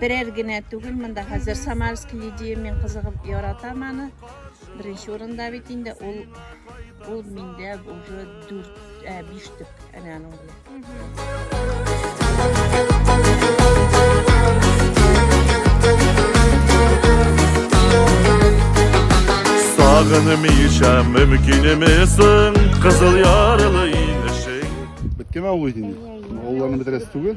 Берәр генә түгел, монда хәзер Самарский лидия мин кызыгып яратам аны. Беренче урында бит инде ул ул миндә уже 4 5 төк әнә аның Сагынмыйча мөмкинемесең, кызыл ярылы инешең. Биттеме авыл инде? Авылларны бетерәсе түгел.